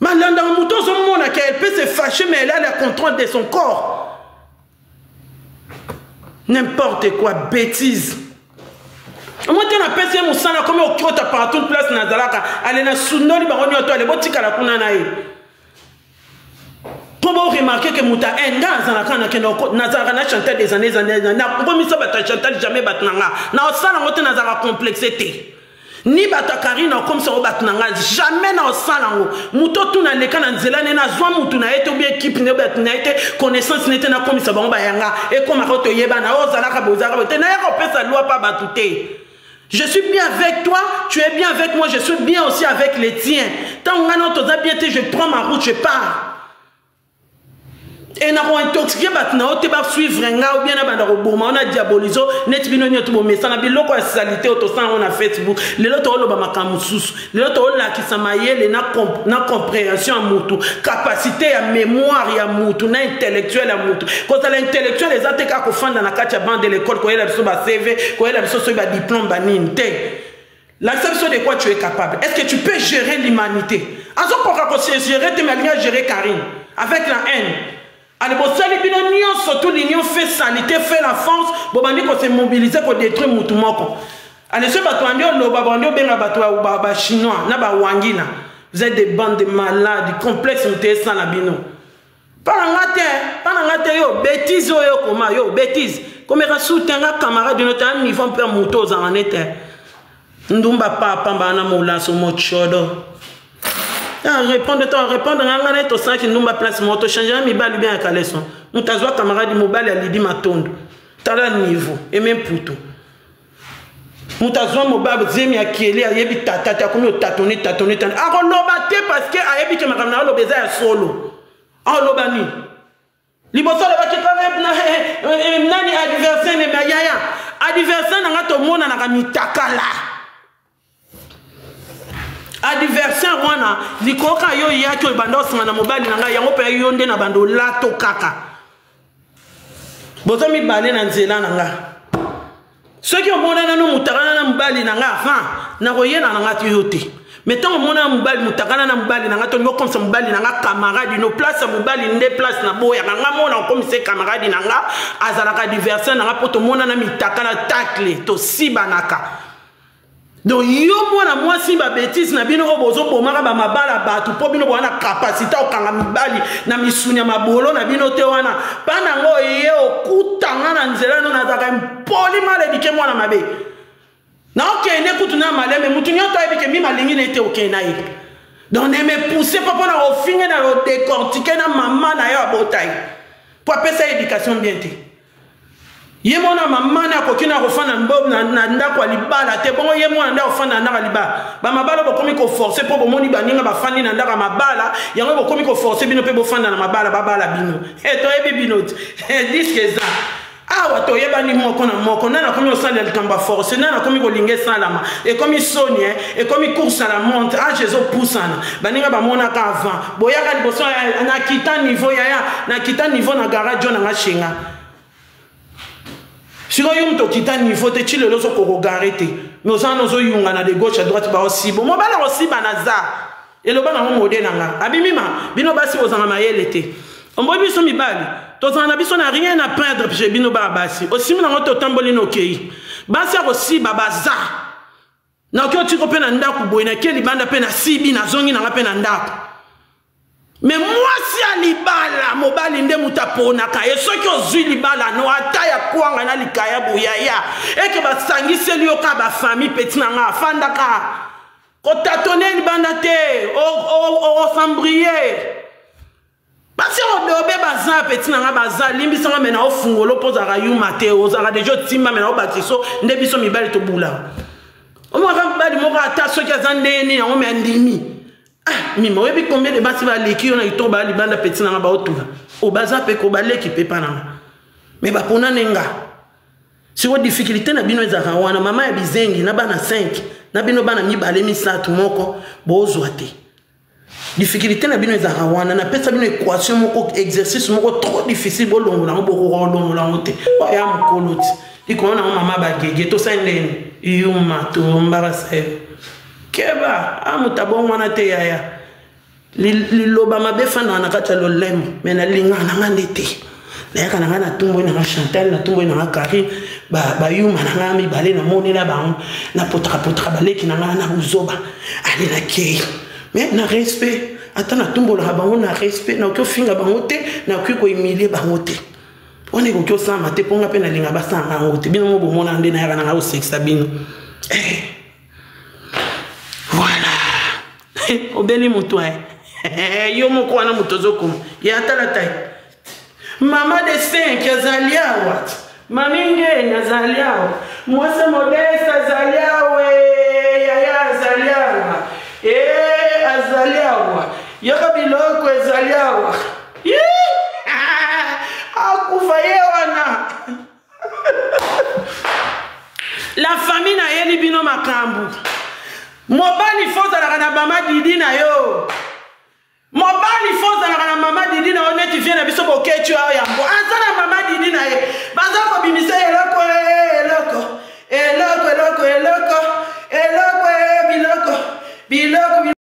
malanda moto ozomona ke elle peut se fâcher mais elle a la contrôle de son corps n'importe quoi bêtise moi te napesi ye mosala akomi okota partout place nazalaka ale nasundoli bango nyoto ale botikala kuna na ye mpo boremarke ke moto ya inde nga nazalaka nakenda nazalaka na chantal des années années nakomisa bato ya chantal jamais bato na nga naosala yango te nazalaka complexe te ni bato ya karine akomisa yango bato na nga jamais naosala yango moto otuna leka na nzela ne nazwa motu na ye te obie ekipe ne bato na ye te connaissance ne te nakomisa bango bayanga ekomaka toyebana oyo ozalaka bozalaka te nayaka opesa lwa mpa bato te je suis bien avec toi tu es bien avec moi je suis bien aussi avec les tiens ntango ngai nao toza bien te je prends ma route je pars e na kointoxike bato na yo te basuivre nga obia na banda koboma ona diabolizo neti bino nyoto bomesana biloko ya salite oyo tosala yango na facebook lelo tokoloba makambo mosusu lelo tolakisa mayele na, comp na comprehension ya mutu kapasite ya mémoire ya mutu na intellectuel ya mutu kozala intellectuel eza te kaka kofanda na kati ya bande de l'école koyela biso ba cv koyela biso soki ba diplôme banini te lakisa biso de quoi tu es capable est ce que tu peux gérer l'humanité azokoka kose gérer te mais alingi agérer carine avec la haine Allez, bosali bino nionso tout l'union fait salite fait la France bobandi ko se mobiliser ko détruire mutu moko allez ce bato bandi oloba bandi obenga bato ba, ba chinois na ba wangina vous êtes des bandes de malades complexe moto esala bino mpana nga te mpana nga te yo bétise oyo okoma yo bétise komeka soute nga camarade no taya niveau mpe moto ozala ne te ndumba papa mbana molaso mocodo ah, répondre to répondre nga nga na ye tosalaki ndumba place moko tochangea mibali bien ya kaleson moto azwa camarade mobali ya lidi matondo tala niveau eme mputu moto azwa mobali zemi ya kieli ayebi tata te akomi otatone tatone tane akoloba te parce que ayebi ke makambo na aloba eza ya solo aoloba nini liboso alobaki nani adversaire neme ya yaya adversaire na ngai tomonanaka mitakala adversaire wana likoka yo eyaki oyo banda osinga na mobali na ngai yango mpe yo nde na bando olato kaka boza mibale na nzela na ngai soki omona nano motakana na mobali na nga avant nakoyela na nga to yo te mais ntango omona mobali motakana na mobali na nga to okomisa mobali na nga camarade no place ya mobali nde place na boyaka nga mona okomisa camarade na nga azalaka diversion na nga mpo tomonana mitakana takle tosibanaka donc yo mwana mwasi babetise na bino oyo bozobomaka bamabala bato mpo bino bowana kapasite okanga mibali na misuni ya mabolo na bino te wana mpa nango oye okutanga na nzela no nazalaka impoli maledike mwana mabe naokende kutu na malembe motu nyonso ayebi ke mimi alingi na ye te okei na ye donc ne me pousse mpo mpo na kofinge na kodecortike na mama na yo abota ye mpo apesa ye éducation bien te ye mwana mama nde akoki na kofanda na ndako ya libala te bongo ye mwana nde akofanda na ndako ya libala bamabala bokomi koforce mpo bomoni baninga bafandi na ndako ya mabala yango bokomi koforce bino mpe bofanda na mabala babala bino e toyebi bino te eh, diske eza awa toyebani moko na moko nani akomi kosalela likambo ya force nani akomi kolinga esalama ekomi soni ekomi course à la monte age ezopusana baninga bamonaka avant boyaka liboso na kita niveau yaya na kita niveau na garage na nga shenga sikoyo yo moto okita niveau te ti lelo ozokokogare te mais oza wana ozoyungana de gauche à droite baosibo mobala kosiba naza eloba nango mode na nga abimima bino basi bozanga mayele te omboyi biso mibali tozala na biso na rien na perdre pje bino baa basi osimi nango te otamboli nokei basi ya kosiba baza naoki otiko mpe na ndako boye nake libanda mpe nasibi nazongi nanga mpe na ndako me mwasi ya libala mobali nde moto aponaka ye soki ozwi libala no ata ya kwanga na likaya boyaya eke basangiseli yo ka bafamille peti na nga afandaka kotatone libanda te osambrie basi yango dobe baza peti na ngai baza limbisa ngai me na ofungolo mpo ozalaka yuma te ozalaka deja otimba me na obatiso nde biso mibali tobulaka omaka mobali moko ata soki aza ndenge nini yango me andimi ah, mima oyebi combien de basi baleki yo na kitoko baya libanda peti na ngai baotula obaza oh, mpe ko baleki mpe mpa na ngai me baponane nga siko difficulté na bino ezalaka wana mama ya bizengi na bana 5 na bino bana mibale misato moko bozwa te difficulté na bino ezalaka wana napesa bino équation moko exercice moko trop difficile bolongola yango bokoka kolongola yango te oya mokolo ti likolo nango mama bagege tosali ndeni yuma tombarasa yo keba a ah, moto abongwana te yaya liloba mabe efandaka na kati ya lolemo me nalingaka na nga nde te nayaka na ngai natumboi na ngai chantal natumboi na ngai carine bayuma na ngai mibale namonela bango napotakapotaka baleki na ngai na buzoba ale nakei me na respect ata natumbolaka bango na respect nakoki ofinga bango te nakoki koemilie bango te wana ekoki osalama te mpo ngai mpe nalinga basalanga yango te bino mo bomona nde nayaka na ngai osekisa bino eh. voilà obeli moto aye eh, yo moko wana moto ozokoma ya atala tai mama de cinq azali awa mami ngeni azali awa mwasi modeste azali awa eh, yaya azali awa e eh, azali awa yoka biloko ezali awa akufa ye wana la famille nayeli bino makambo mobali fo ozalaka na mama didi na yo mobali fo ozalaka na mama didi na yo neti vie na biso boketi oyo yango aza na mama didi na ye baza kobimisa eloko eh, eloko eloko eloko eloko eloko eh, biloko biloko